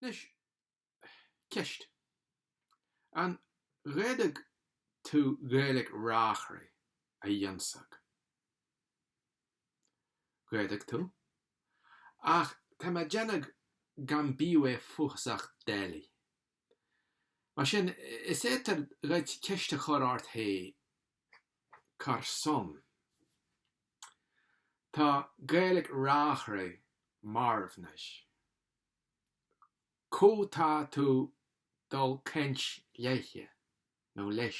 Anois, ceist. An bhféadadh tú Gaeilg Reachraidh a dh'ionnsachadh? Dh'fhéadadh tú, ach tá mé déanadh gan bíodh é fuathasach doiligh. Mar sin, is fhéadar dhuit ceist a chur ort hé, car son tá Gaeilic Reachraidh marbh 'nois? Có tá tú dul cainnt leithe, nó leis?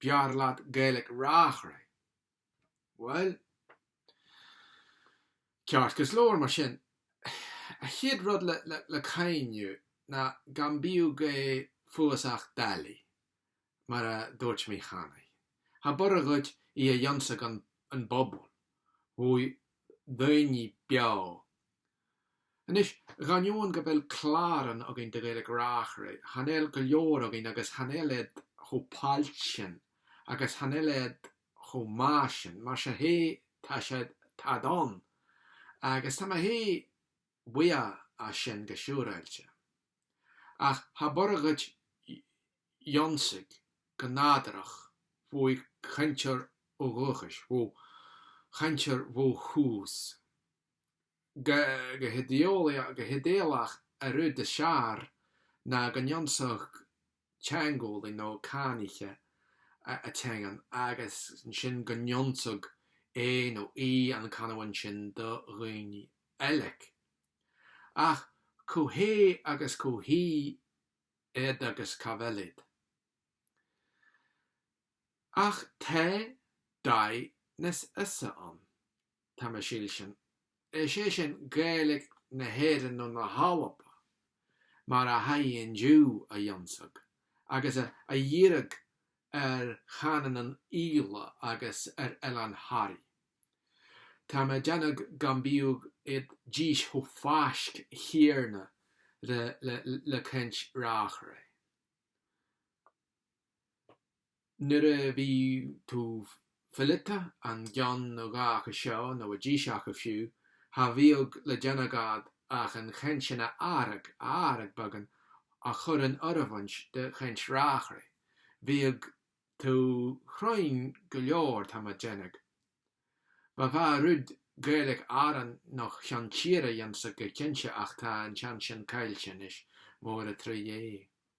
B'fhearr leat Gaeilic Reachraidh? Bhuel. Ceart go leor, mar sin, a chéad rud le cuimhniú ná gan bíodh é fuathasach doiligh, mar a dúirt mé cheana. Cha b'urra dhuit í a dh'ionnsachadh an bpobal, bhó daoine beo Anois, dhainneoin go bhfuil cláran againn de Ghaeilge Reachraidh, chan eil go leor againn agus chan eil iad chomh pailt sin agus chan eil iad chomh maith sin, mar sin hé, tá sé, táid ann agus tá mé hé buíoch as sin go siúráilte. Ach cha b'urra dhuit ionnsachadh go nádúrach bhó chainteoir ó dhúchais, bhó chainteoir bhó thús go hidéalach an rud is fhearr ná go n-ionnsachadh teangeolaí nó cáiníche a teangain agus ansin go n-ionnsachadh é nó í an canamhain sin do dhaoine eile. Ach có hé agus có hí iad agus cá bhfuil iad? Ach tá dóigh nas fhusa ann. Tá mé saoilsin, is é sin, Gaeilig na hÉireann nó na hAlba, mar a tha í inniu a dh'ionnsachadh, agus a dhíreadh ar chanamhainean Íle agus ar Oileán Thoraí. Tá mé déanadh gan bíodh iad dís chomh faisc chéanna le caint Reachraidh. Nuair a bhí tú fileanta, an gceann nó dhá acu seo, nó a dís acu fiú, cha bhíodh le déanamh agat ach an chaint sin atharrachadh, a atharrachadh beagán, a chur in oireamhaint de chaint Reachraidh. Bhíodh tú cruinn go leor, tá mé déanadh. Ba mhaith rud Gaeilic Arann nó Cheann Tíre a dh'ionnsachadh go cinnte ach tá an teans sin caillte anois, mór an truaighe é.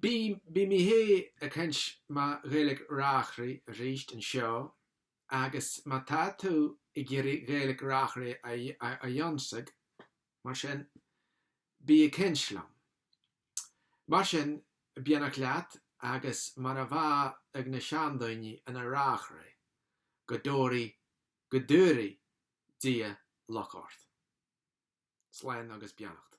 Bidh mé ag caint ma Ghaeilge Reachraidh arís anseo agus má tá tú ag iarraidh Gaeilge Reachraidh a dh'ionsaigh, mar sin, bí ag caint liom. Mar sin, beannacht leat agus mar a bhá ag na seandaoine ina Reachraidh, go dtóraidh, go dtabharaidh Dia luck ort. Slán agus beannacht.